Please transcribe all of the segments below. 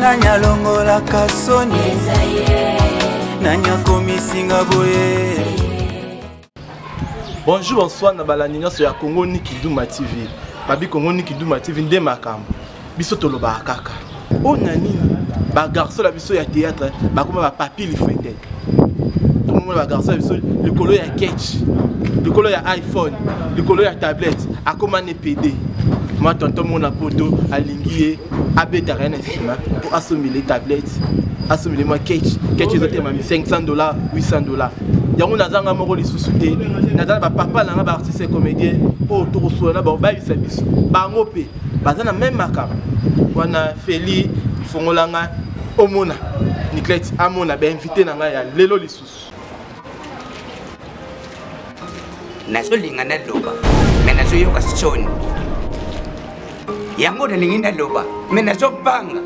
nani alongolaka soni nani akomisinga boye bonjour bonsoir na balandi nyonso ya congo nikiduma tv babi congo nikiduma tv nde makambo biso tolobaka kaka mpo na nini bagarso na biso ya théâtre bakoma bapapi lifete tomona ba garçon ya biso likolo ya ketch likolo ya iphone likolo ya tablette akoma ne pede mwa tonton mona poto alingi ye abetaka ye na nsima mpo asombele tablette asombele mwa ketch ketch ezotema 500 dollar 800 dollar yango nazanga moko lisusu te naza na bapapa na nga baartiste comédien oyo tokosola na bakobayisa biso bango mpe baza na meme makambo wana feli fongola ngai omona niklete amona bainvite na ngai ya lelo lisusu nazolinga naloba me nazoyoka soni yango nalingi naloba me nazobanga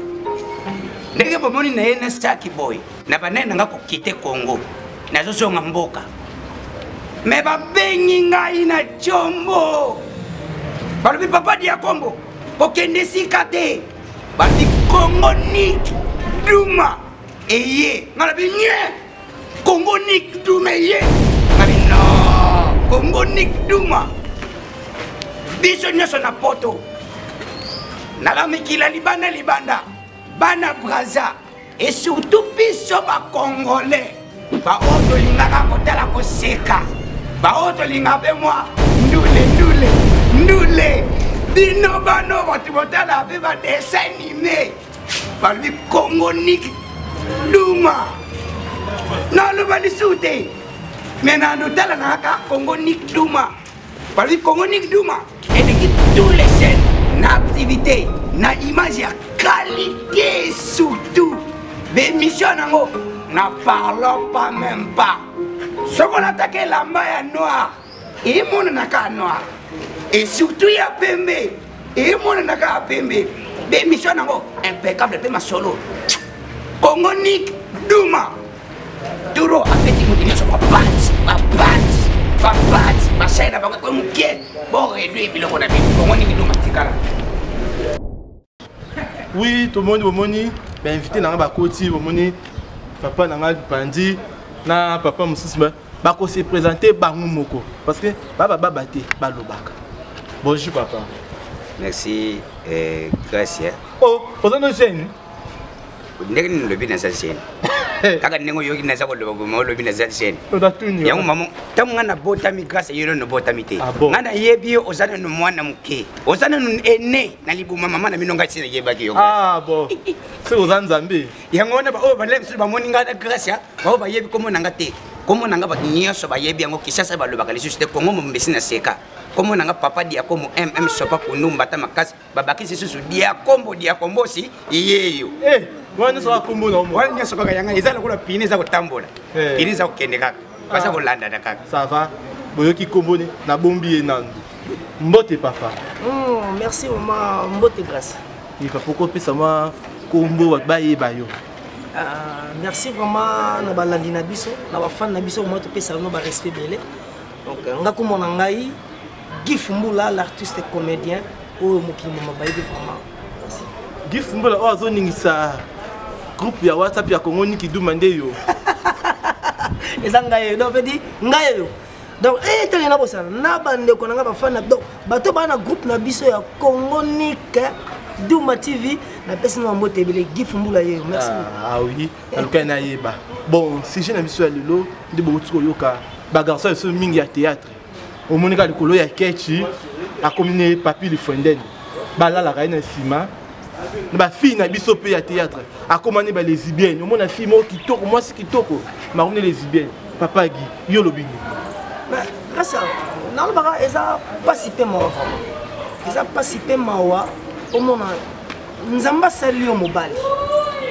ndenge bomoni na ye na saki boye na banani na ngai kokite kongo nazozonga mboka me babengi ngai na combo balobi papa diakombo kokende esika te bati kongo nik duma eye nga na binye kongo nik duma eye nga bino kongo nik duma biso nyonso na poto nala mikila libanda libanda bana braza et surtout biso bacongolais baoyo tolingaka kotala koseka baoyo tolingaka mpe mwa ndule ndule ndule bino bano bato botala mpe badesin anime balobi kongo niki duma naloba lisusu te me na ndotala na kaka kongo niki duma Balobi Congo Nick Duma eleki tous les chaînes na activité na image ya qualité surtout bemission nango na parlons pas même pas soki olataki elamba ya noir emonanaka ya noir et surtout ya pembe emonanaka ya pembe bemission nango impeccable mpe masolo Congo Nick Duma toro abeti moto nyonso bapanzi bapanzi bapanzi masai na bango ekwe moke boredwe biloko na bino bongo nini bino matikala oui tomoni bomoni bainvité na ngai bakoti bomoni papa na ngai panzi na papa mosusu bakose présente bango moko parce que babababa te balobaka bonjour papa merci eh, gracia oh oza no jeune ndenge nini olobi naza jeune kaka ndenge oyoki naza koloba boma olobi naza jeune yango mama ntango ngai nabotami grâce yo nano obotami te ah ngai nayebi yo oza nano mwana moke oza nano ene na libuma mama na bino ngai si nayebaki yo ah soki oza nzambe yango wana baoyo balai mosusu bamoni ngai na grâce ya baoyo bayebi kombo na ngai te kombo na ngai bato nyonso bayebi yango kisasa balobaka lisusu te kongo mombesi na seka kombo na ngai papa diakomo mm sopa kundu mbata makasi babakisi lisusu diakombo diakombosi iyeyo eh, wana nyonso kaka kombo na wana nyonso kaka yanga eza lokola pine eza kotambola eh. pine eza kokende kaka baza ah. kolandana kaka ça va boyoki kombo ne nabombi ye nando mbote papa oh, merci mama mbote grace ika poko opesa mwa kombo bato bayeba yo ah, merci vraiment na balandi na biso na bafane na biso mwa topesa bino barespect ebele donc nga kombo na ngai Guy Fumbula l'artiste comédien oyo mokili mama bayebi vraiment Guy Fumbula oyo azoningisa groupe ya WhatsApp ya Congo Niki Duma nde yo eza ngai yo donc pedi ngai yo donc etali eh, na bosana na bandeko na ngai bafana donc bato baa na groupe na biso ya Congo Niki Duma TV napesi na mbote ebele Guy Fumbula yeyo merci ah, ah oui nalukaki nayeba bon sujet na biso ya lelo nde bokoti koyoka bagarso ya biso mingi ya théâtre omonika likolo ya kechi akomi ne papi lifuendene balalaka ye na nsima na bafille na biso mpe ya théâtre akoma ne balesibienne omona fille moko kitoko mwasi kitoko makomi ne lesibienne papa gi yo olobi nini kasi nalobaka eza mpasi mpe mawa vraimen eza mpasi mpe mawa omona nzambe asali yo mobali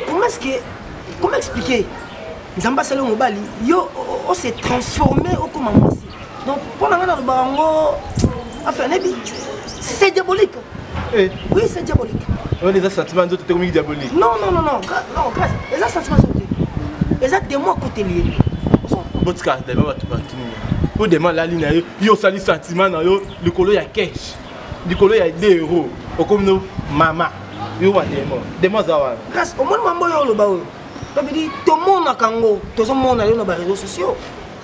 comment est-ce que comment expliquer nzambe asali yo mobali yo o se transforme okoma mwasi donc mpo na ngai nalobaka yango enfin nayebi c'est diabolique eh. oui c'est diabolique oyo eza sentiment nzoto te komingi diabolique non non non non non grâce eza sentiment nzoto te eza demoi akoteli ye botika dema bato bakimi yo dema alali na yo yo osali sentiment na yo likolo ya cache likolo ya 2 euros okomi no mama yo wa demo demo aza wana grâce omoni mambo oyo oloba oyo babidi tomonaka yango tozomona yo na bareseau sociaux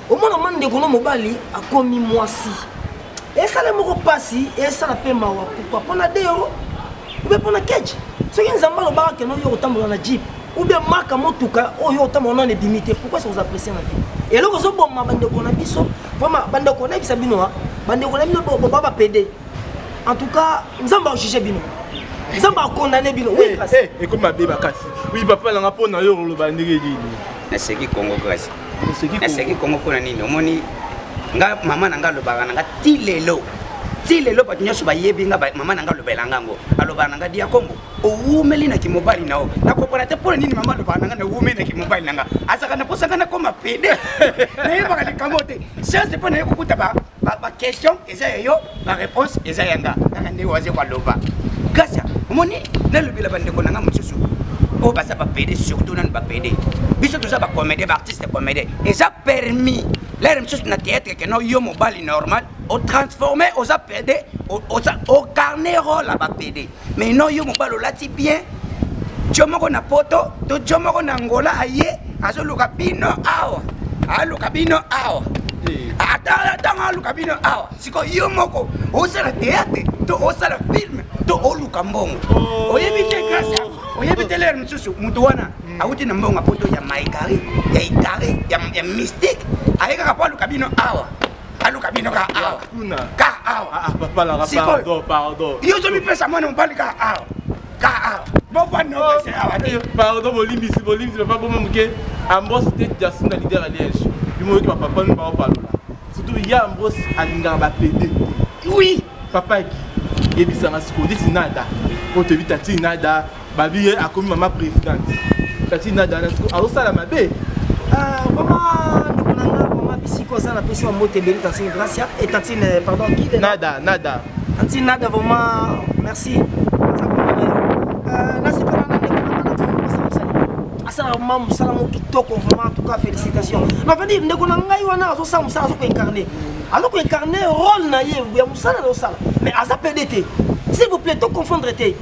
omona mwa ndeko no mobali akomi mwasi esala moko mpasi esala mpe mawa pourkui mpo na 2 euro mpe mpo na keche soki nzambe alobaka keno yo kotambola na jeep ou bien maka motuka oyo otama wana ebimi te pourquoi ça vous apprécie na vie eloko ezoboma bandeko na biso vraiment bandeko nayebisa bino a bandeko na bino boba bapede en tout cas nzambe ajuge bino nzambe akondane bino eh, eh, ekomi mabe makasi wi papa nanga mpo na yo oloba ndenge nini naseki congo kasi naseki congo mpo na nini omoni nga mama na nga alobaka na nga ti lelo ti lelo bato nyonso bayebi nga mama na nga alobela nga yango alobaka na nga diakombo owumeli na kimobali na yo nakopana te mpo na nini mama alobaka nanga nawumeli na kimobali nanga azalaka na mposa ngai nakoma pede nayebaka likambo te sianse mpo naye kokuta baquestion eza ya yo bareponse eza ya nga kaka ndenge waze kwaloba gracia omoni nalobela bandeko na nga mosusu oyo baza bapede surtout nani bapede biso toza bacomédien baartiste comédien eza permis lere mosusu na théâtre keno yo mobali normal otransforme oza pede ocarne role ya bapede mais non yo mobali olati bien jo moko na poto to jo moko na angola aye azoluka bino awa aluka bino awa eh. ata ntango aluka bino awa sikoyo yo moko osala teatre to osala filme to oluka mbongo oh. oyebi te grâce ya oyebi te lere mosusu moto wana hmm. awuti na mbongo ya poto ya maigari ya igari ya mystique aye kaka mpo aluka bino awa aluka bino ka awa ka awa ah, ah, papalaka pardon pardon yo ozomipesa mwana mobali ka awa ka awa bobwanopese oh, awa te eh, pardon bolimbisi bolimbisi papa boma moke ambos te jasin na lider ya liège bimoyoki bapapa no baopalola surtout ya ambos alingaka bapede oui papa eki yebisanga sikoyo ndeti nada oyo toyebi tati nada babi ye akomi mama présidente tati na dana siko azosala mabe ah, vraiment ndeko na nga mama bisiko aza na pesi wa mbote ebele tantine gracia et tantine euh, pardon guide nada nada tantine nada vraiment merci euh, nasepela na ndeko na nga asalaka ma mosala mo kitoko vraiment en tout cas félicitation na veut dire ndeko na ngai wana azosala mosala azo koincarne azo koincarne rôle na ye ya mosala na osala mais aza pede te s'il vous plaît to confondre te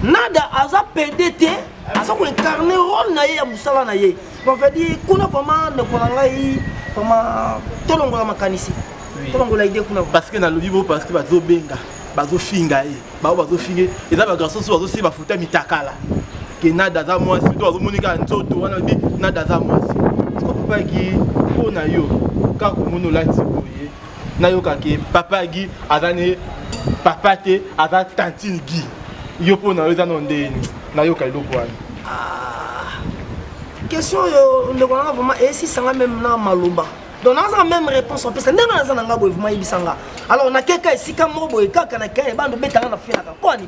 nada aza pede te aza koincarne role na ye ya mosala na ye bavadi kuna vraimen ndeko na ngai vraimen tolongola makanisi tolongola ide kuna parce que nalobi bo parce que bazobenga bazofinga ye bango bazofinge eza bagarçon so bazosi bafuta mitakala ke nada aza mwasi to azomoni kaka nzoto wana bi nada aza mwasi sikopapaki mpo na yo kaka komoni olati boye nayoka ke papa gi aza ne papa te aza tantine gi yo mpo na yo eza no ndeni nayoka eloko wana ah, question oyo ndeko nanga vraiment esisanga meme na maloba donc nazanga meme réponse opesa ndenge naza na nga boye vraiment yebisa nga alors nakeka esika moko boye kaka na kene bando betanga na finaka kwani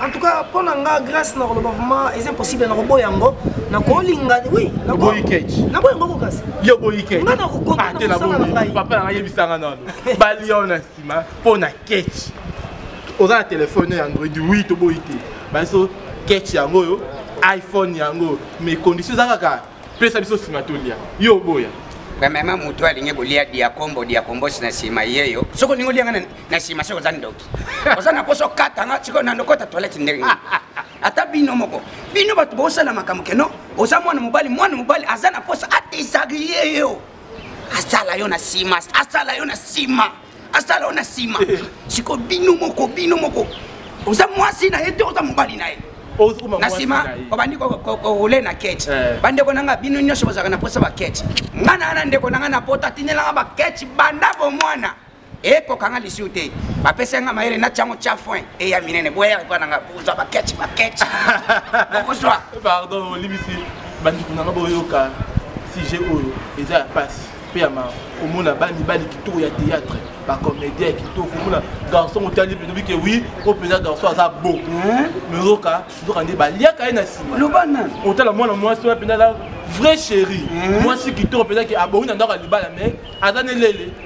En tout cas, pour nga grâce na koloba vraiment est impossible na koboya yango na kolinga oui na boyi catch na boyi ngoko kasi yo boyi catch nga na ko konta na sala na ngai papa na ngai bisanga na ba lion na sima pour na catch oza na telefone ya android oui to boyi te ba so catch yango yo iPhone yango mais condition za kaka pesa biso sima to lia yo boya premièrement moto alingi kolia diakombo diakombosi na nsima ye yo soki olingi olia nga na nsima soki oza ndoki oza na poso katanga sikoyo na lokota toilette ndenge ata bino moko bino bato bosala makambo keno oza mwana mobali mwana mobali aza na posa adesagrie yo asala yo na nsima asala yo na nsima asala yo na nsima eh. sikoyo bino moko bino moko oza mwasi na ye te oza mobali na ye na nsima obandi korule na kete eh. bandeko na nga bino nyonso bozalaka na mposa bakete ngai na wana ndeko na ngai na pota atindelanga bakete banda bomwana ekokanga lisiu te bapesi yanga mayele na tiango tia foin eya minene boya epa nanga kozwa baketch baketch okozwa pardon olibisi bandeko nanga boyoka sujet oyo eza ya pasi mpe ya ma komona bamibali kitoko ya théâtre bacomédien ya kitoko komona garçon otali mpe tobi ke wi oyo mpenza garçon aza bo mezoka nzoka nde baliaka ye na nsima lobana otala mwana mwasi oyo mpenza aza vrai chéri mwasi kitoko mpenza ke abongi na ndako ya libala mais aza nelele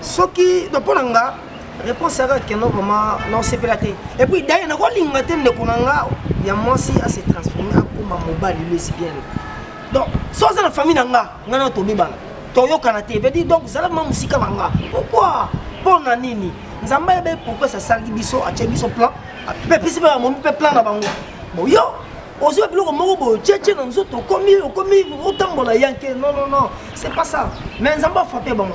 soki na mpo na nga réponse yaka keno vraiment naosepela te et puis daye nakolinga te ndeko na nga ya mwasi ase transforme akoma mobali lesbienne donc so aza na famille na nga nga na tobibana toyokana te vedi donc zala ma mosika na nga pourquoi mpo na nini nzambe ayebe pourquoi sasalaki biso atye biso plan mpe pesi mpe bamomi mpe plan na bango boyo ozwa biloko moko boye otyetye na nzoto okomi okomi otambola yanke non non non c'est pas ça mais nzambe afrape bango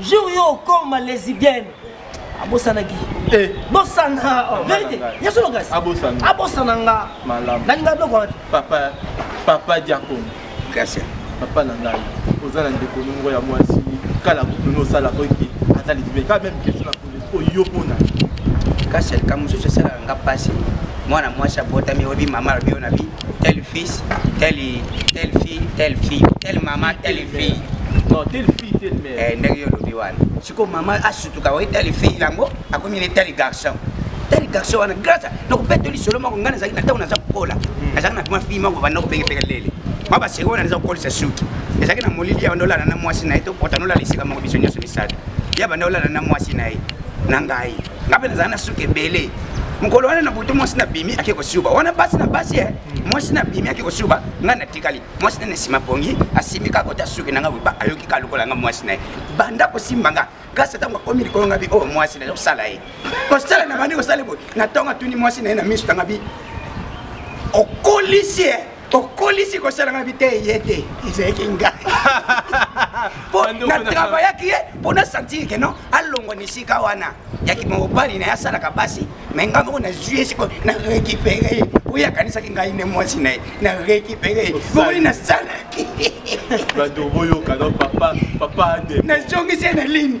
jour yo okoma lesibienne abosanaki eh. bosana oh, verité ya solo kasi abosana nga nalinga biloko wana papa papa diakon gracia papa na ngai oza na ndeko nongo ya mwasi kala kutu nosalaka ete aza lesibienne kaka meme question oyo mpona kasi alika mosusu esalaka nga mpasi mwana mwasi abotami oyebi mama alobi yo na bi tel fils tel tel fille tel fille tel mama tel fille non tel fille tel mère eh, ndenge yo olobi wana sikoyo mama asutuka oye tel fille yango akomi ne tel garçon tel garçon wana grâce nakobeta lisolo moko ngai nazalaki na ntango naza kokola hmm. nazalaki na kuma fille moko banda kobengepeke lele mwa baseko wana naza kokolisa suki ezalaki na molili ya ndolana na mwasi na ye tokota nolala esika moko biso nyonso misato ye abanda olala na mwasi na ye na ngai ngai mpe nazala na suki ebele mokolo wana na butu mwasi na bimi ake kosuba wana basi na basi e mwasi na bimi ake kosuba ngai natikali mwasi nene nsima pongi asimbi kaka kota suki na ngai boye ayoki ka lokola ngai mwasi na ye banda kosimba ngai kasi ntango akomi likolo ngai bi oyo oh, mwasi na ye kosala ye kosala na bandi kosala boye na ntongo atuni mwasi na ye na miso na ngai bi okolisi ye okolisi kosalanga biteye ye te ezalaki nga po na travaillaki ye mpo na sentire ke non alongwa na esika wana yaki mobali na ye asalaka basi mai ngai moko nazwi ye sikoyo na récupere ye oyo akanisaki ngai nde mwasi na ye na récupere ye bomoni nasalaki nazongisi ye na ligne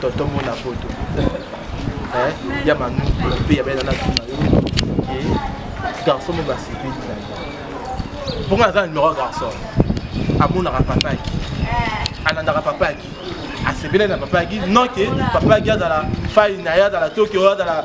tonton mona poto eh, ya banu mpe ya bena natuna yo ke garçon mo basepeli na yo mpo nga naza na numero ya garçon amonaka papa yaki alandaka papa yaki asepelaki na papa yaki non ke papa yaki azala fai na ye azala tokio azala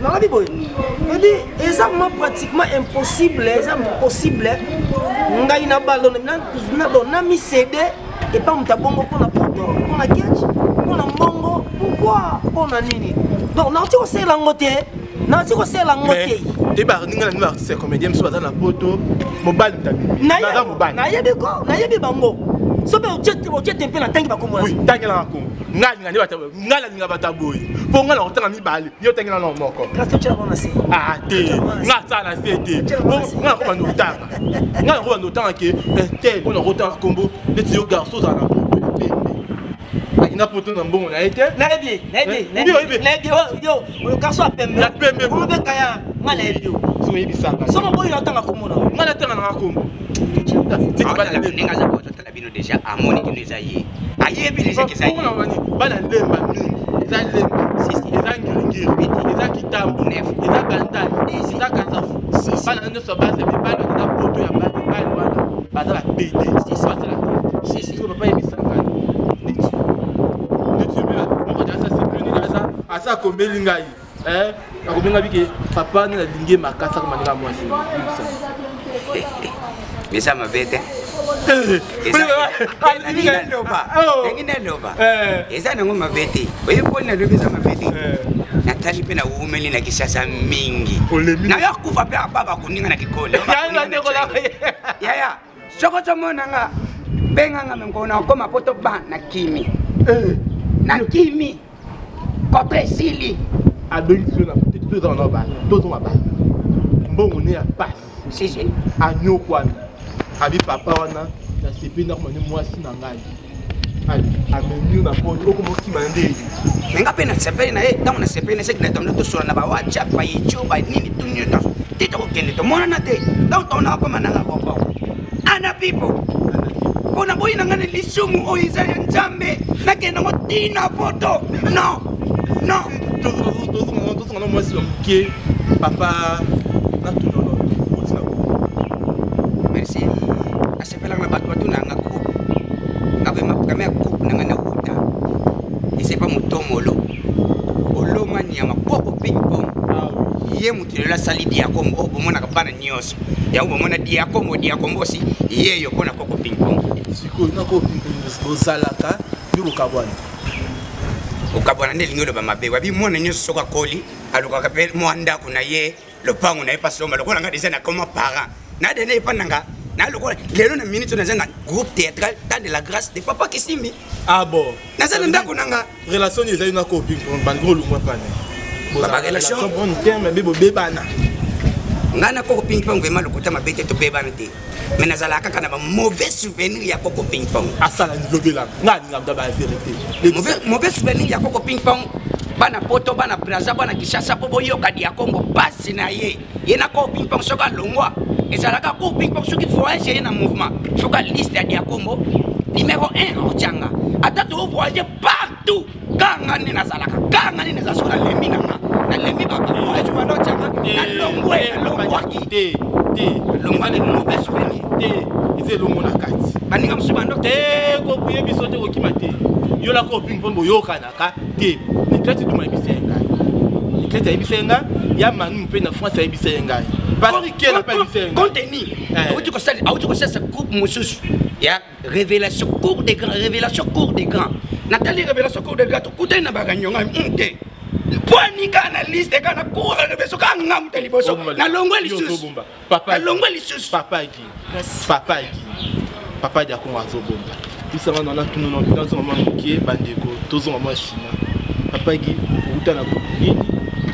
nalobi boye odi eza ma pratiquement impossible eza possible ngai na balo na misede epa moto abongo mpona poto mpona ketch mpona mbongo pourkoi mpona nini donc nauti kosala yango te nauti kosala yango te toyeba ninga na nino artiste ya comédien mosusu baza na poto mobali motabiaza mobali nayebi ko nayebi bango soki otie tempe na ntangi bakomona tangelaka kongo ngai alinga nde nga nalinga bato ya boye mpo nga nakotanga mibale yo otangi nano moko ah, te nga asala na se te nga nakobanda otanga nga nakobanda otanga ke eh, te mpo nakotanga nkombo neti yo garso ozala na akenda poto na mbongo na ye te nayebi ye nayebi yo oyo garso ya pembe ya pembe obekaya nga nayebi yo soyebisaka somo boyi natanga komona nga natanga nanga kombo na bino deja amoni kino eza ye ayebi deja keza ye bana lemba mingi eza lemba eza ngiringiri eza kitambo eza bandal eza kasafu bana nyonso baza mibali eza poto ya bana mibali wana baza bapede basala sisiko papa yebisangani niti niti moko aza akomeli ngai eh akobenga bike papa nde nalingi ye makasi akoma ndenge ya mwasi eza mabe te ndenge naloba eza nango mabe te oye mpo nalobi eza mabe te eh. natali mpe nawumeli na kisasa mingi nayo akufa mpe ababa koninga na kikolo yaya soko tomona nga benga nga mengo na okoma po toba na kimi eh. na kimi koto esili abengisi yo na koteki tozala na bana tozonga bana mbongo ne ya pasi anyokwami abi papa wana nasepeli nakoma ne mwasi na ngai amemio na poto okoma okima nde me nga mpe nasepeli na ye ntango nasepeli na seki na tomona tosola na bawhatsapp bayico banini to nyonso te tokokende tomonana te ntango tomona akoma nanga koko ana pipo mpo na boyi na ngai na lisumu oyo eza ya nzambe nakenda ngo tina poto non non tozongana mwasi ya moke papa natuna Epelaka na bato batuna yanga groupe nga vrema programe ya groupe nanga na wuta esepa motomolo oloma nyama koko ping pong ah ye moto lelo asali diakomo oyo oh, bomonaka bana nyonso yango bomona diakomo diakombosi yeyo mpo na koko ping pong sikoyo na koko ping pong bozalaka nde bokabwana kokabwana nde elingi oloba mabe wabi mwana nyonso soki akoli alukaka mpe mwa ndako na ye lopango na ye mpa somba lokola nga deja nakoma parent na dene epa na nga na lokola lelo na minute naza na groupe théâtral temps de la grâce de papa kisimbi ah bon naza na ndako na nga relation nini ezali na kopi bandeko olungwa pane babarelation bonne terme be bobebana ngai na koko ping pong vraimen lokuta mabe te tobebana te me nazalaka kaka na bamauvais souvenir ya koko ping pong asala lobela nga alinga mda baverité mauvais souvenir ya koko ping pong bana poto bana braza bana kishasa mpo boyoka dia kongo mpasi na ye ye na koko ping pong soki alongwa ezalaka koko ping pong soki voyage ye na mouvement soki aliste ya dia kongo numero 1 otyanga ata tovoyage par tout kaka nga nde nazalaka kaka nga nde naza soki nalembi na nga nalembi babamoajumana otyanga nalongwe nalongwaki te te longwane mobe souvenir te eza elongo na kati baninga mosusu bando te kokuye biso te kokima te yolaka opingi mpo boyokanaka te nikleti duma ebisa ye ngai nikleti ayebisa ye ngai ya manu mpe na france ayebisa ye ngai patrikela mpe ayebisa ye ngai konteni eh. auti kosalisa groupe mosusu ya révélation cour de grand révélation cour de grand natali révélation cour de grand tokutani na bakanionga hmm, te mpo anika na liste kaka na cour de révélation kaka ngamta liboso nalongwe lisusu nalongwe lisusu papa eki papa eki papa eki akongo azobomba bisanga na natuna na bitanzo mama moke bandeko tozonga mwa nsima papa eki outa na nini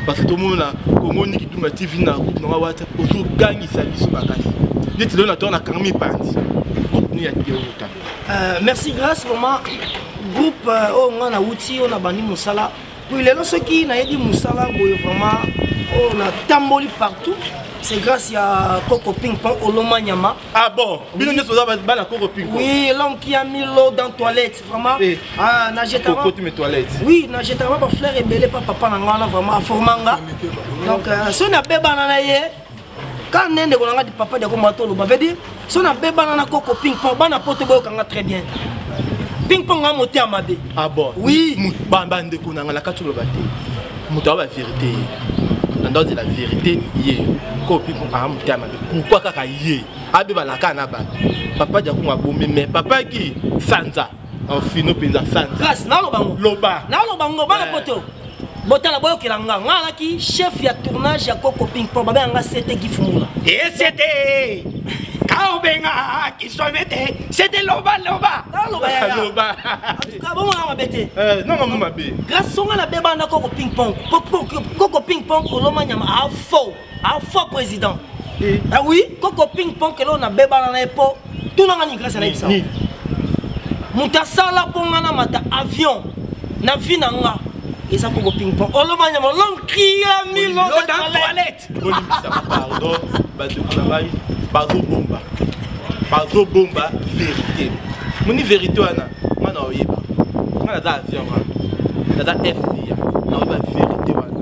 parce que tomona kongo niki duma tv na groupe nanga wata ozogangi Salut biso makasi neti lelo na to nakanga mipanzi contenu ya teota euh, merci grace vraiment groupe euh, oyo ngai nauti oyo nabandi mosala puis lelo soki nayebi mosala boye vraiment oyo natamboli partout c'est grâce ya koko ping pong oloma nyama ah bon bino nyonso oza bana koko ping pong oui l'homme qui a mis l'eau dans toilette vraiment eh, ah na jetama koko tu toilette oui na jetama ba fleur ebele pa papa na ngana vraiment aformanga donc euh, so na bebana na ye ka nde ndeko na nga papa deko mwa toloba veut dire so na bebana na koko ping pong bana poto boyoka nga très bien ping pong nga mote ya mabe ah bon oui bandeko na nga lakati oloba te moto aba verité ye nanda ozela verité ye koko ping pong aa mote ya mabe pourkui kaka ye abeba na kaa na bato papa diakongo abomi mais papa ki sanza enfino mpenza sanza loba naloba ngo bana eh. poto botala boyokela nga nga alaki chef ya tournage ya koko ping po babe yanga sete gifumula esete eh, kaobenga kisomete sete loba loba loba bomona mabe te eh, nonga mo mabe grâce onga na bebanda koko ping pong koko ping pong oloma nyama afo a faux président eh. ah oui koko ping pong kelo na bebana na ye po tuna nga nini grâce anayebisa moto asala mpo nga namata avion na vie na nga eza koko ping pong oloba nyama olom cria milodatoilette bolimbisaka pardon bandeko na ngai bazobomba bazobomba verité moni verité wana nga na oyeba nga naza avion nga naza fda na oyeba verité wana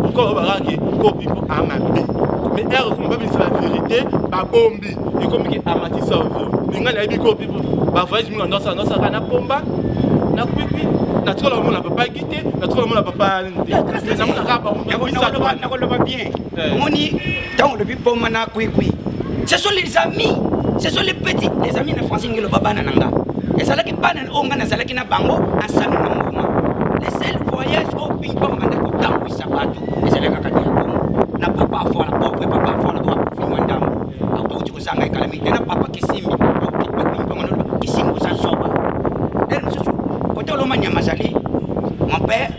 pourquoi oyeba kaka ke kopi mpo amabe mais heure ekoma babimisa ba verité babombi ekomi ke amatisa ovio linga nayebi kopi ba voyage mingi andosala ndosaka na pomba na kwikwi natikola omona papa gite natikola omona papa nte namonaka bango nakoloba bien omoni ntango olobi boma na kwikwi ce sont les amis ce sont les petits les amis na français ndenge eloba bana na nga ezalaki bana oyo nga nazalaki na bango ensemble na mouvement le seul voyage oyo bipa banda kotambwisa bato ezalaki kaka dia kongo na papa afola pauvre papa afola oyo akufi mwa ndambo akouti kozanga ekala mingi te na papa kisimbi bango kisimbi oza zoba ele mosusu kote oloma nyama azali mon père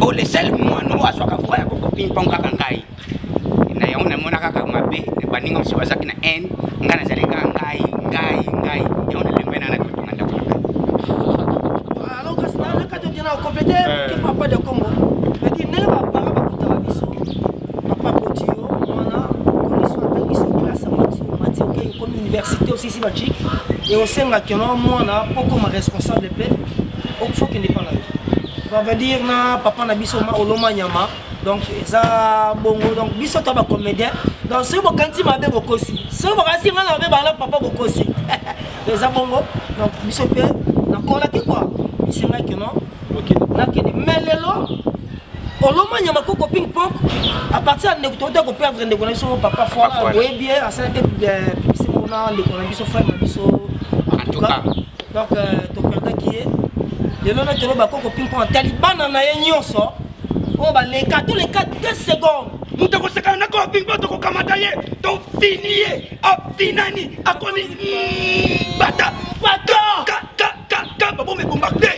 oyo le seul mwana oyo azwaka voix ya kokopingpong kaka ngai na yango namona kaka mabe baninga mosusu bazalaki na haine ngai nazali kaka ngai ngai ngai yango nalembai nanga nakotonga ndako na université osisi bacik e osengaki no mwana mpo okoma responsable mpe okufokende epa na yo va dire na papa na biso oloma nyama donc eza bongo donc biso to bacomédien donc soki bokanisi mabe bokosi soki bokanisi ngai na mabe bana papa bokosi eza bongo donc biso mpe nakolaki kua esengaki no nakende me lelo olomanya makoko ping pong à partir ya ndeko tokota koperdre ndeko na biso papa foire boyebi ye asalaki eh, pibisi mona ndeko na biso frère na biso entouka donc euh, toperdaki ye lelo na tolo bakoko ping pong atali bana na ye nyonso oyo baleka toleka 2 seconde moto akosekana na kola bingba tokokamata ye tofini ye afinani akomi bata baboma ebomba te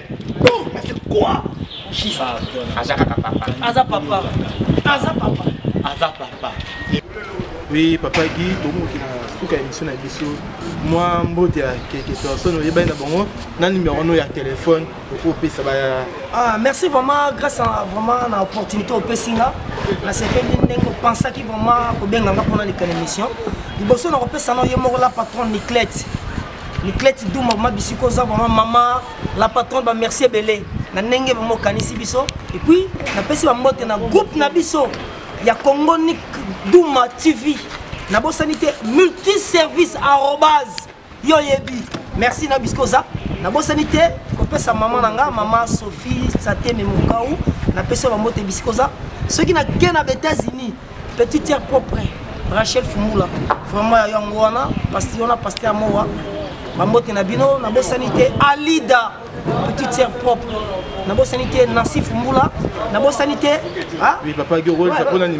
c'est quoi aza kaka papa aza papa aza papa aza papa oui papa gi tokomoki na suka ya émission na biso mwa mbote ya quelque personne oyebani na bango na nimero no ya telefone okopesa ba ah merci vraiment grâce à vraiment na opportunité opesi nga nasepeli ndenge opensaki vraiment kobenga nga mpona leka na émission liboso na kopesa na ye moko la patron niclete niclete duma ma bisiko oza vraiment mama la patronne bamerci ebele na ndenge vraiment okanisi biso epuis napesi bambote na groupe na biso ya congo nik duma tv nabosani te multiservice arobase yo oyebi merci na bisko oza nabosani te kopesa mama na nga mama sophie sateme mokau napesi yo bambote bisika oza soki nake na baétats-unis petit tiere propre rachel fumula vraiment ya yango wana pasti wana paste ya mowa bambote na bino nabosani te alida petit tiere propre nabosani te nancy fumula nabosani te ah? oui, papa, oui,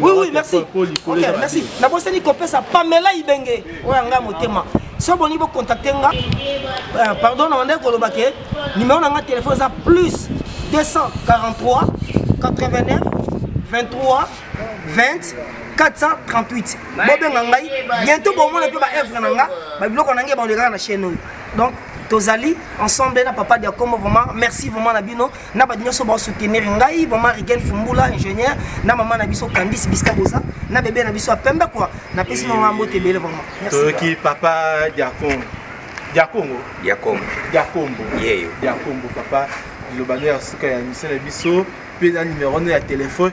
oui, merci. Okay, merci. nabosani kopesa pamela ibenge oyo anga motema so boni bocontacte nga euh, pardon na bandaki koloba ke numero na nga telefone eza plus 243 89 23 20 438 bobenga ngai bientôt bomona mpe baevre na nga babiloko na ngai baolekaka na chaine oyo donc tozali ensemble na papa diakomo vraiment merci vraiment na bino na bato nyonso baosoutenir ngai mama rigel fumbula ingénieur na mama na biso candice biska boza na bebe na biso ya pembe kua napesi mama mbote ebele vraiment toyoki papa diacon diakongo diakombo diakombo yeyo diakombo papa liloba no ya suka ya misio na biso mpe na numero no ya telefone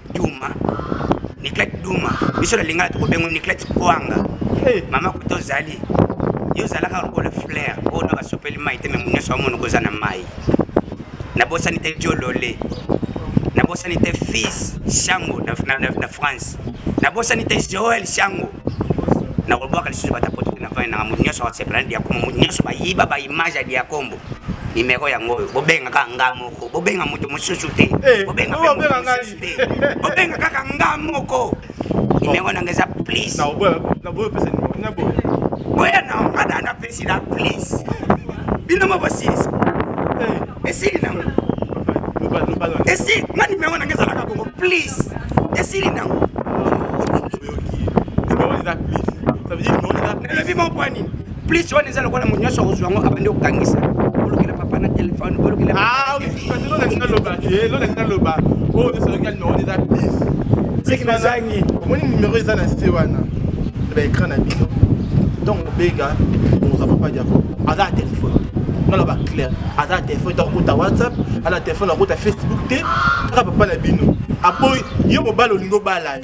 duma niklete duma biso na lingala tokobengo niklete kwanga eh. mama kuta ozali yo ozalaka lokola flair oyo na basopeli mai te memo nyonso bamonoko oza na mai nabosani te jolole nabosani te fils shango na, na, na, na france nabosani te joel shango nakolobwaka lisusu batapoto na vani nanga moto nyonso akosepela na diakombo moto nyonso bayiba baimage ya diakombo nimero yango oyo bobengaka ngambo moko bobenga moto mosusu te eh, bobenga kaka nga moko nimero nanga eza please boya na nga da napesi na please bino mo bosilisa eh. esili nango esi nga nimero nanga ezalaka bongo please esili nango elobi mopwa nini plus wana eza lokola moto nyonso akozwa yango abandi kokangisa olukela papa na telefone olukelaolobaloba oyo esalaki numero eza bis seki nazangi omoni numero eza na se wana ba écran na bino ntongo obenga oza papa diako aza na telefone naloba claire aza na telefone to akota whatsapp aza na telefone akota facebook te kaka papa na bino aboyi yo mobali olingi obala ye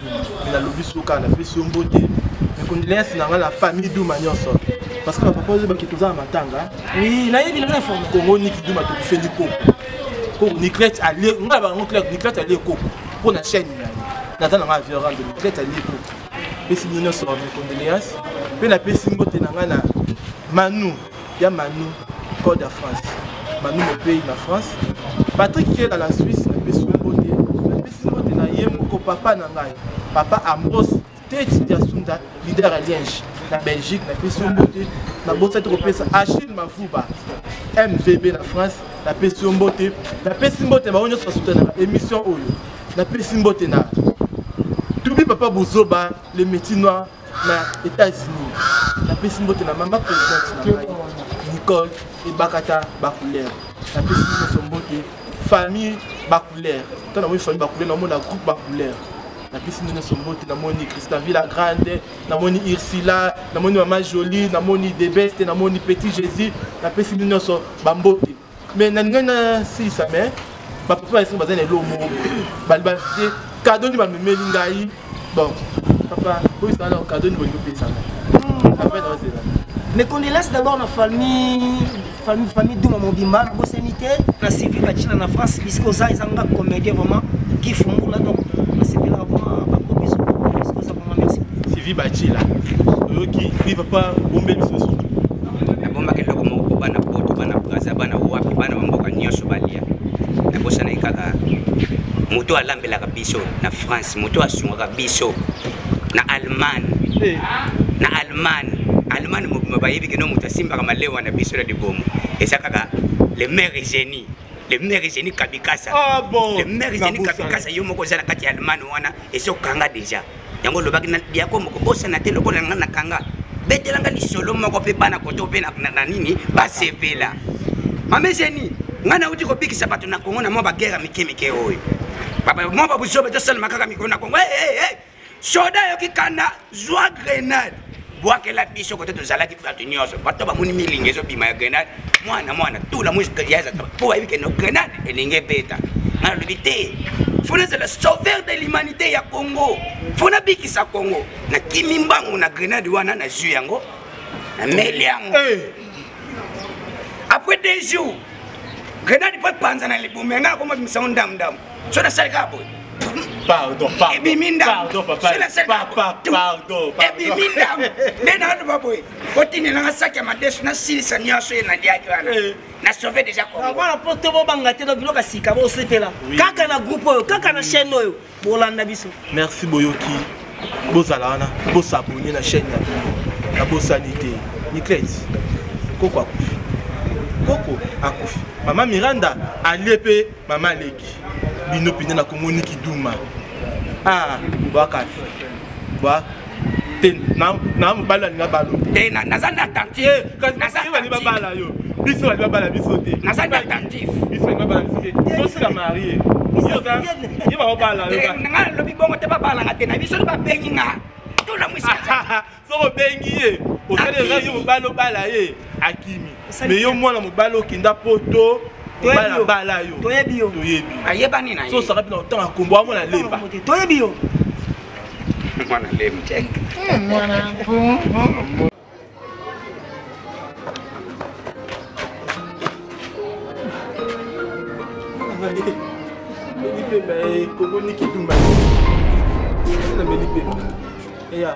mais nalobi suka napesi yo mbote mais condoléance na ngai na famille duma nyonso parce que bapapa oyo bakiti oza na matanga kongo niki duma tokufeli koko koko niclete alie ngai na bango claire niclete alie koko mpo na chaîne na ye naza na ngai avion rando niclete alie koko pesi bino nyonso ba mes condoléance mpe napesi mbote na ngai na manu ya manu code ya france manu mopei na france patrik kela na suisse napesi yo mbote napesi mbote na ye moko papa na ngai papa ambros teti diasunda lider ya lienge na belgique napesi yo mbote nabosaki kopesa achille mavuba mvb na france napesi yo mbote napesi mbote bango nyonso basutanaka émission oyo napesi mbote na tubi papa buzoba le métier noir na États-Unis. La pesi mbote na mama présidente na ngai Nicole Ebakata Bakulere. La pesi mbote mbote famille Bakulere. Tana mwe famille Bakulere na mona groupe Bakulere. La pesi mbote na mbote na moni Christa Villa Grande, na moni Ursula, na moni mama Jolie, na moni Debeste, na moni Petit Jésus. La pesi mbote na mbote mais nalingai nasilisa mais bapapa bayeso baza na eloo moko baliba te kado nde bamemeli ngai bon papa oyo ezala na kado nde bolingi opesana hmm. après naozela mes condoléances d'abord na famille famille famille duma mobimba na bosani te na civil bacina na france bisika oza eza nga comédien vraiment gifungula donc nasepelaka vraiment bakobiso sivi bacila oyoki wi papa bombe lisusu nabombaki eloko moko mpo bana poto bana braza bana wapi bana bamboka nyonso balia nabosanaki kaka moto alambelaka biso na france moto asungaka biso na allemagne eh. na allemagne allemagne mobima bayebi kino moto asimbaka malewa na biso na libomo eza kaka le maire génie le maire zeni kabikasa ah, bon. le maire zeni kabikasa yo moko oza na kati ya allemagne wana esi okanga deja yango olobaki na diako moko bosana te lokola nga na kanga betelanga lisolo moko mpe bana koto mpe na nini basepela mame zeni ngai nauti kobikisa bato na kongo na mwa bagere mike mike oyo mwa babuzobe tosalema kaka mikolo na kongo soda yoki kanda zwa grenade bwakela biso kote tozalaki bato nyonso bato bamoni milinga ezobima ya grenade mwana mwana tula mpo bayebi keno grenade elingi ebeta nga nalobi te fo nazala sauver de l'humanité ya congo fo nabikisa congo nakimi mbangu na grenade wana nazwi yango nameli yango eh. après deux jours grenade mpo epanza na libumu yanga akomabimisango ndamdamu so nasali kaka boye pardon pardon ebimi ndambo so nasali kaka boye ebimi ndambo nde naloba boye otinelanga saki ya madesu nasilisa nyonso ye naliaki wana eh. na sauve deja kongobana mpo to bobanga te na biloko ya sika bosepela kaka na groupe oyo kaka na chaîne oyo bolanda biso merci boyoki bozala wana bosabone na chaîne ya bino na bosani te niclet koko akufi koko akufi mama miranda alie mpe Mama leki, bino pende na Congo ni kiduma. Ah, bwaka. Bwa te na na mobali alinga balo. Te na naza na attentif. Eh, kasi naza na bali babala yo. Biso bali babala biso te. Naza na attentif. Biso bali babala biso te. Tosi la marier. Ye ba babala yo. Nga lobi bongo te babala nga te na biso ba bengi nga. Tola mwisi. soki obengi ye osali eza ye mobali obala ye akimi me yo mwana mobali okenda poto balabala yo toyebi yo toyebi ayebani na ye so osaka mpena otanga kombo yango na lemba toyebi yo mwana lemba eh, mwana Meli pemba, eh, kogo niki tumba. Na meli pemba. Eh, ya.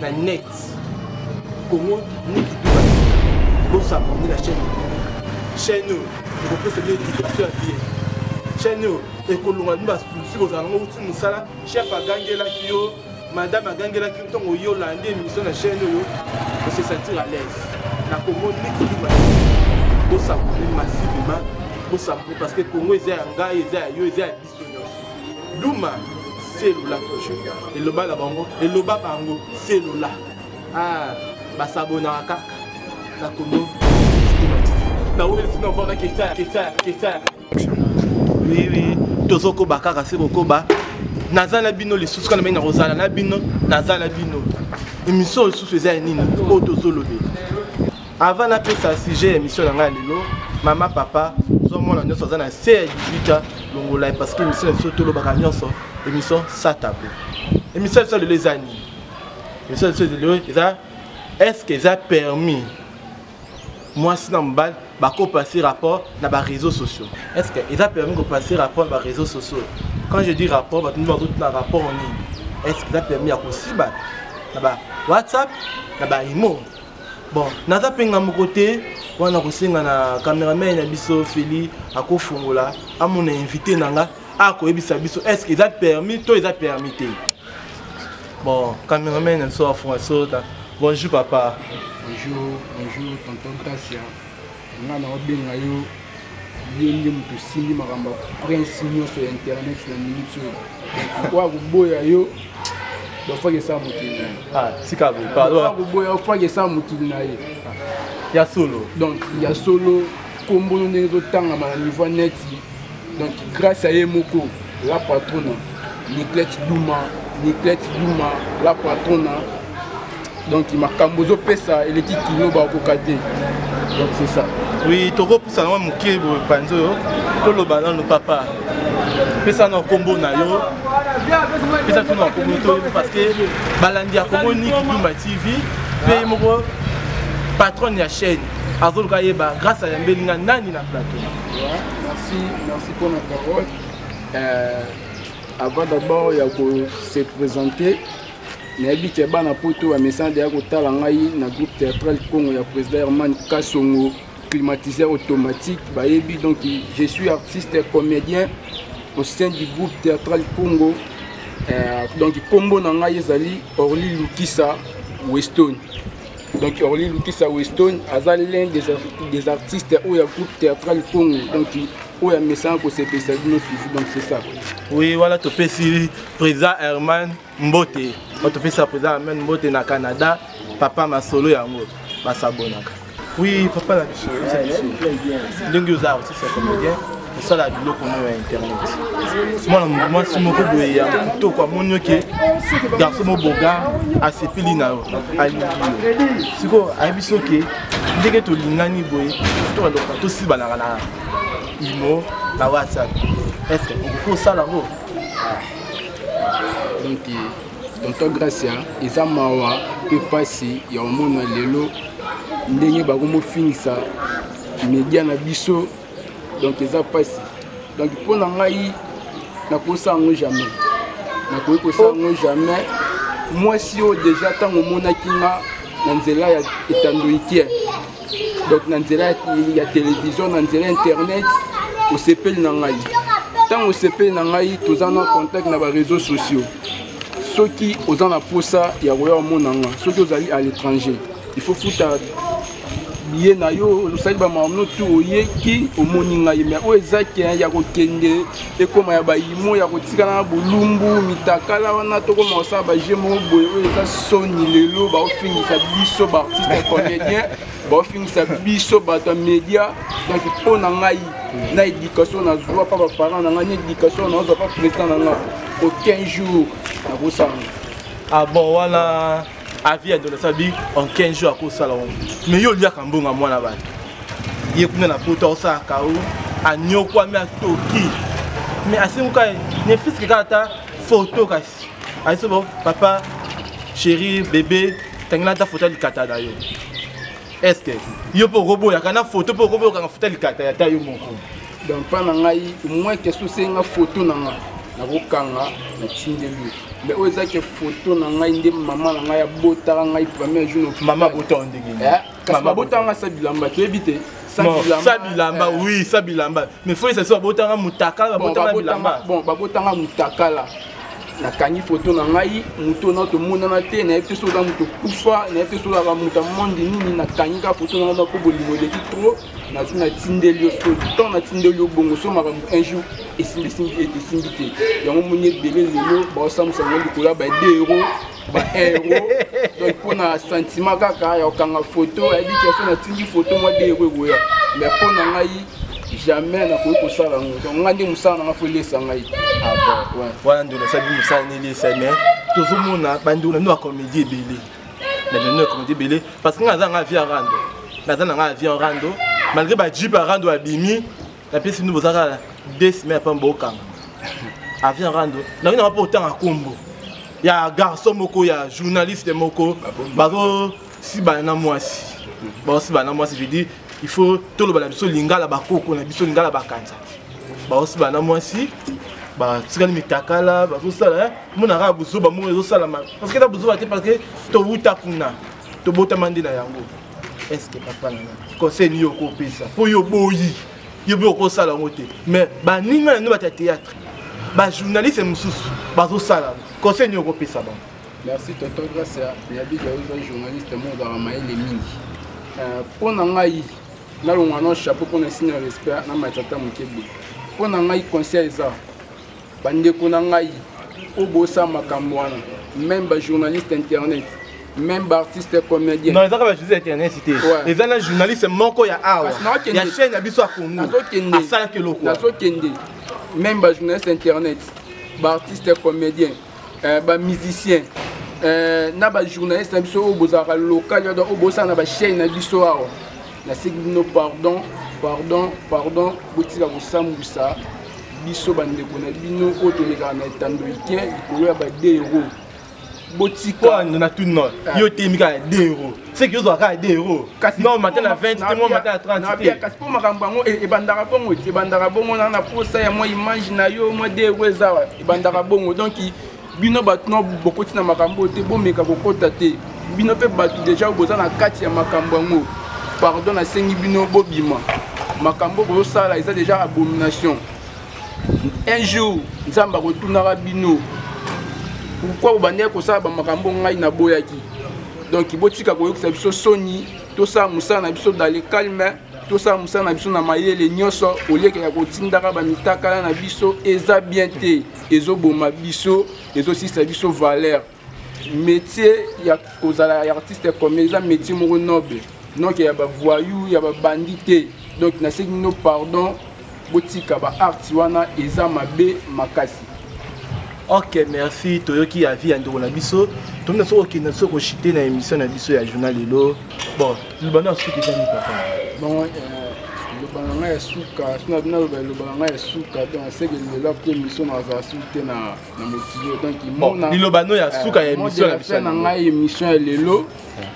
na net congo niki duba bosabonde na chaîne chaîne oyo ekopesa bino éducation ya bien chaîne oyo ekolonga bino basusi kozala nango uti mosala chef agangelaki yo madame agangelaki yo ntongo yo olandi émission na chaîne oyo ose sentir à l'aise na congo niki duba bosabonde massivement bosabonde parce que congo eza ya ngai eza ya yo eza ya duma selula toujours eloba na bango eloba bango selula ah, basabonaka kaka na kono wiwi tozokoba kaka se kokoba naza na bino lisusu kana mai nakozala na bino naza na bino emission lisusu eza ya nini oyo tozolobela Avant na pesa sujet ya émission na ngai lelo, mama papa zwa mwana nyonso aza na se ya 18 ans longola ye parce que émission na biso tolobaka nyonso émission sa tableau. Émission biso lelo eza nini? Émission biso lelo eza est-ce que eza permis mwasi na mobali bakopase rapport na baréseaux sociaux est ce que eza permis kopase rapport na baréseaux sociaux quand je dis rapport bato nde bazotuna rapport nini est ce que eza permis ya kosiba na ba whatsapp na baimo bon naza mpe nga moko te wana kosenga na cameraman na biso feli akofongola amona invité na nga akoyebisa biso est ce que eza permis to eza permis te bon cameraman na biso afonga sota bonjour papa bonjour bonjour tonton gracia nga na obenga yo ye nde moto osimbi makambo ya prince nyonso ya internet na minute oyo okoya koboya yo bafaki esala mokili na ye ah, tika boyeboya ofaki esala mokili na ye ya solo donc ya solo nkombo no ndenge ezotangama na niveau neti donc grâce à ye moko la patrona niclette duma niclette duma la patrona donc makambo ozopesa eleki kino bakoka te donc c'est ça oui tokopusa nango moke boye panzi oyo toloba nano papa pesa na nkombo na yo pesa tuna nkombo to parce que balandi ya kongo niki dumba tv mpe moko patronne ya chaîne azoluka yeba grâce ayambeli nga nani na plateau Euh, avant d'abord ya kose présenter nayebi ke bana poto bamesana deya kotala ngai na groupe théâtral congo ya président herman kasongo climatiseur automatique bayebi donc je suis artiste comédien au sein du groupe théâtral congo euh, donc nkombo na ngai ezali orly lukisa westone donc orly lukisa weston aza l'un des, des artistes oyo ya groupe théâtral congo donc oyo amesana kosepelisa bino toujours donc c'est ça oui wana topesi président herman mbote wana topesa président herman mbote na canada papa masolo yango basabonaka oui papa na biso ndenge oza artiste ya comédien kosala biloko moko ya internet mwana mwasi moko boye ya kitoko amoni oke garso mo boga asepeli na yo alingi yo sikoyo ayebi soki ndenge tolingani boye tobandoko tosibanaka na imo na whatsapp estce okoki kosala yango donc tonton gracia eza mawa mpe mpasi ya omona lelo ndenge bakomofingisa media na biso donc eza mpasi donc mpo na ngai nakosa yango jamais nakoki kosa yango jamais mwasi oyo deja ntango omonaki nga na nzela ya etandoikie donc na nzela ya televizio na nzela ya internet osepeli na ngai ntango osepeli na ngai toza na contact na bareseau sociaux soki oza na mposa ya koya omona nga soki ozali à l'étranger il faut futa biye na yo osali bamamno tu oyeki omoni ngai me oyo eza kin ya kokende ekoma ya bayimo ya kotikala na bolumbu mitakala wana tokoma kosala baje moko boye oyo eza soni lelo baofingisa biso baartiste ya comédien baofingisa biso bato ya média donc mpo na ngai na éducation nazwa mpa baparent na ngai na éducation nazwa mpa président na ngai aucun jour nakosanga ah bon wana avis ya ndona sabi en 15 jours akosala yango mais yo oliaka mbongo ya mwana bato ye kuna na poto akosala kao anyokwami atoki mais asenguka ne fiske kaka ata foto kasi ayese bo papa chéri bebe tangela ata foto ya likata na yo estce yo mpe okoboyaka na foto mpe okoboyokanga foto ya likata ya ta yo moko donc mpa na ngai moins question osenga foto na ngai nakokanga natindeli mais oyo ezaki foto na ngai nde mama na ngai abotaka ngai premier jour na mama abotaka ndenge nini eh, kasi babotaka ngai sa bilamba toyebi te sa bilamba eh. oui sa bilamba mais fo esasi babotanga mutakala babotanga bilamba bon babotanga mutakala nakangi foto na ngai moto na tomonana te nayebi te soki oza moto okufa nayebi te soki ozalaka moto ya monde nini nakangi kaka foto na ngai moko bolingo eleki trop nazo natindeli yo soki ntango natindeli yo bongo so makambo un jour esimbisimbi ete esimbi te yango moni ebele lelo baosambusa yango likolo ya baide euro baeuro donc mpo na sentiment kaka ya kokanga foto ayebi keso natindi foto mwa de euro ekoya mais mpo na ngai jamais nakoki kosala yango donc ngai nde mosala na ngai fo elesa ngai ah wana nde nasali mosala na elesa mais tozomona bandeko na bino ya comédie ebele na mino ekomedi ebele parce que nga naza nanga avi ya rando naza nanga avi ya rando malgré bajipe ya rando abimi napesi bino boza kaka deux semaine apama bokanga avi ya rando nakoki nanga mpo otanga nkombo ya garçon moko ya journaliste moko bazosibana na mwasi bazosibana na mwasi je dis il faut toloba na biso lingala bakoko na biso lingala bakanza baosibana na mwasi batikali mitakala bazosala mona kaka buzoba moko ezosalama parce que eza buzoba te parce que towuta kuna tobotama nde na yango est ce que papa nanga conseil nini okopesa mpo yo oboyi yo mpe okosala yango te mais baninga na nde bata théâtre bajournaliste mosusu bazosala conseil nini okopesa bango merci toto grâce ya yabiga ozali journaliste mo ozalaka mayele mingi euh, mpo na ngai nalongwa na chapeau mpo na esina respect na matata moke boye mpo na ngai conseil eza Bandeko na ngai, obosa makambo wana, meme ba journaliste internet même baartiste comédien non ezaka bajournaliste ya internet te eza na journaliste moko ya awa ya chaîne ya biso ya congo asalaki eloko nazokende même bajournaliste internet baartiste comédien euh, bamusicien euh, na bajournaliste na biso oyo bozalaka local oyo bosala na bachaîne na biso awa naseki bino pardon pardon pardon botika kosambwisa biso bandeko na bino oyo tolekaka na etando ike likolo ya badero botika na tout non ah. yo temi kaka de euro seki yo ozwaka kaka de euro kasi non mata na 20 te mwa mata na 30 te kasi mpo makambo yango e- ebandaka bongo ebandaka bongo na na posa ya mwa image na yo mwa de euro eza ebandaka bongo donc bino bato no bokoti na makambo oyo te bomeka kokota te bino mpe bato deja boza na kati ya makambo yango pardon nasengi bino bobima makambo bozosala eza deja abomination un jour nzambe akotunaka bino pourkui bobandaki kosala bamakambo ngai naboyaki donk botika koyokisa biso soni tosala mosala na biso dans le calme tosala mosala na biso na mayele nyonso olieke ya kotindaka bamitakala na biso eza bien te ezoboma biso ezosisa biso valeur métier ya kozala ya artiste ya comedie eza métier moko noble donc ya bavoyou ya babandi te donc nasengi bino pardon botika baarti wana eza mabe makasi ok merci toyoki avis ya ndeko na biso tomina soki okenda soki koshite na émission na biso ya journal lelo bon libanda ya suka ezali papa bongo liloba na ngai ya suka sina bino aloba liloba na ngai ya suka donc aseke lelo apo émission na azala suki te na motilo donc imona liloba no ya suka ya émission na biso na ngai émission ya lelo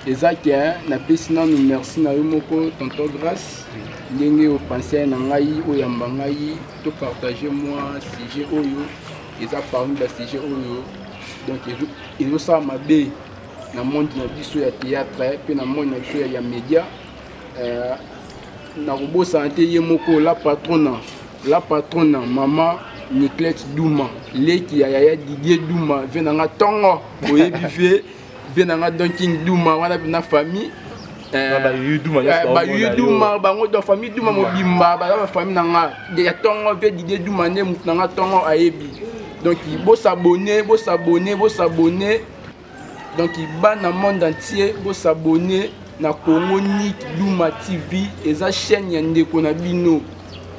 eza ke napesi nanu merci na yo moko tonton grace ndenge opense na ngai oyamba ngai to partage mwa sujet oyo eza parmi basujet oyo donc ezosala mabe na monde na biso ya théâtre eh, mpe na monde na biso ya média euh, nakobosana te ye moko la patrona la patrona mama niclette duma leki ya yaya didier duma vie na nga ntongo oyebi vie vie na nga donking duma wana na famille euh, bayuduma euh, bango do famille duma mobimba baza bafamille na nga ya ntongo vie didier duma nde motu na nga ntongo ayebi donc bosabone bosabone bosabone donc bana monde entier bosabone na congo nik duma tv eza chaîne ya ndeko na bino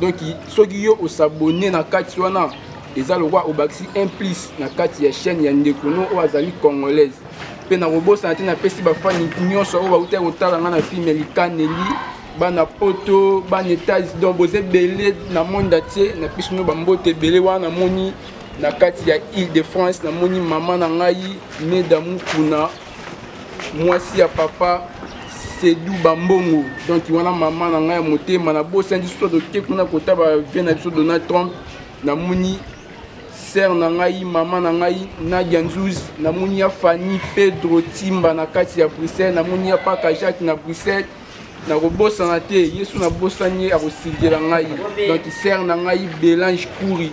donc soki yo osabone na kati wana eza lokola obakisi un plus na kati ya chaîne ya ndeko no oyo azali congolaise mpe nakobosana te napesi bafani nyonso oyo bautaki kotala ngai na filme likaneli bana poto bana etats donc boza ebele na monde atie napesi bino bambote ebele wana namoni na kati ya ile de france namoni mama na ngai meda mukuna mwasi ya papa sedu bambongo donc wana mama na ngai ya motema nabosani lisusu toke kuna kota bavie na biso donald trump namoni sere na ngai mama na ngai nadia nzuzi namoni ya fanny pedro timba na kati ya bruxelles namoni ya paka jacques na bruxelles nakobosana te yesu nabosani ye akosilgela ngai donc sere na ngai belange kuri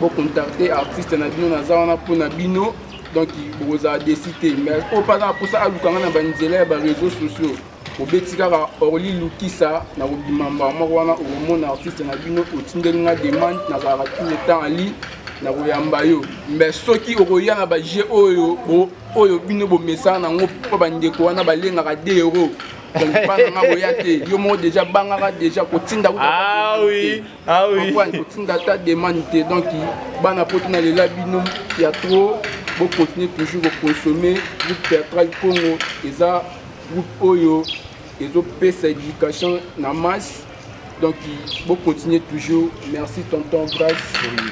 Bo contacter artiste na bino naza wana mpo na bino donc bokozala desi te mais oyo mpe aza na mposa aluka nga na banzela ya bareseau sociaux obeti kaka orli lukisa na kobima mbala moko wana okomona artiste na bino otindeli nga demande nazalaka tout le temps ali na koyamba yo mais soki okoya na baje oyo oyo bino bomesana nango mpo bandeko wana balengaka de euro donc bana nga koya te yo moko deja bangaka deja kotinda ah, oui. Ah oui. Pourquoi il faut tinda ta demande te donc bana poto na lela bino ya trop bo continuer toujours ko consommer groupe théâtral Congo eza groupe oyo ezo pesa éducation na masse donc bo continuer toujours merci tonton Grace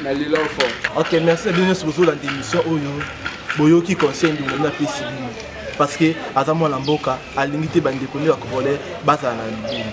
na lela fort. OK merci bino sur la émission oyo boyoki conseil ndungu na pesi bino parce que aza mwana mboka alingi te bandeko nde bakongolais bazala na libumu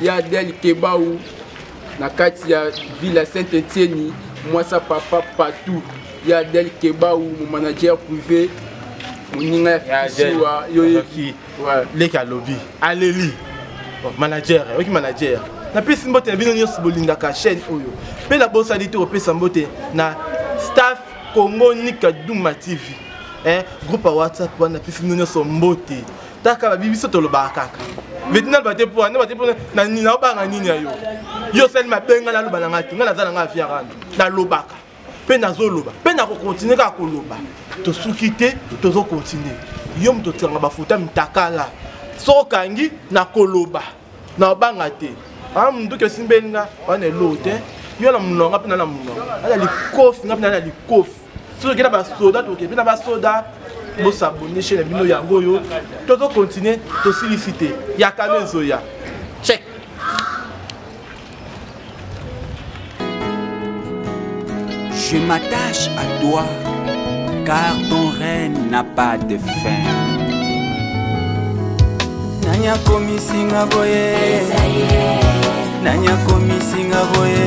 ya adel kebau na kati ya ville ya saint etienne mwasa papa patou ya adel kebau momanager privé moninga ya fisiwa yoyeki leki alobi aleli manager oyoki manager napesi mbote na bino nyonso bolingaka chaîne oyo mpe nabosani te kopesa mbote na staff congo nika duma tv eh, groupe ya whatsapp wana napesi bino nyonso mbote taka babi biso tolobaka kaka veti naloba te mpo naloba te mpo naobanga nini ya yo yo osali mabe ngai naloba na ngai te ngai naza na ngai afia rando nalobaka mpe nazoloba mpe nakokontinue kaka koloba tosuki te tozokontinue yo moto otikanga bafuta mitakala soki okangi nakoloba naobanga te aa ah, monduki osimbeli nga wana eloo te yo na mononga mpe na na mononga ana likofi nga mpe na na likofi soki okenda basoda tokebi na basoda bosabone chaine ya bino yango oyo tozo continue tosilisi te yakano ezoya check Je m'attache à toi, car ton règne n'a pas de fin. Nani akomisi nga boye? Nani akomisi nga boye?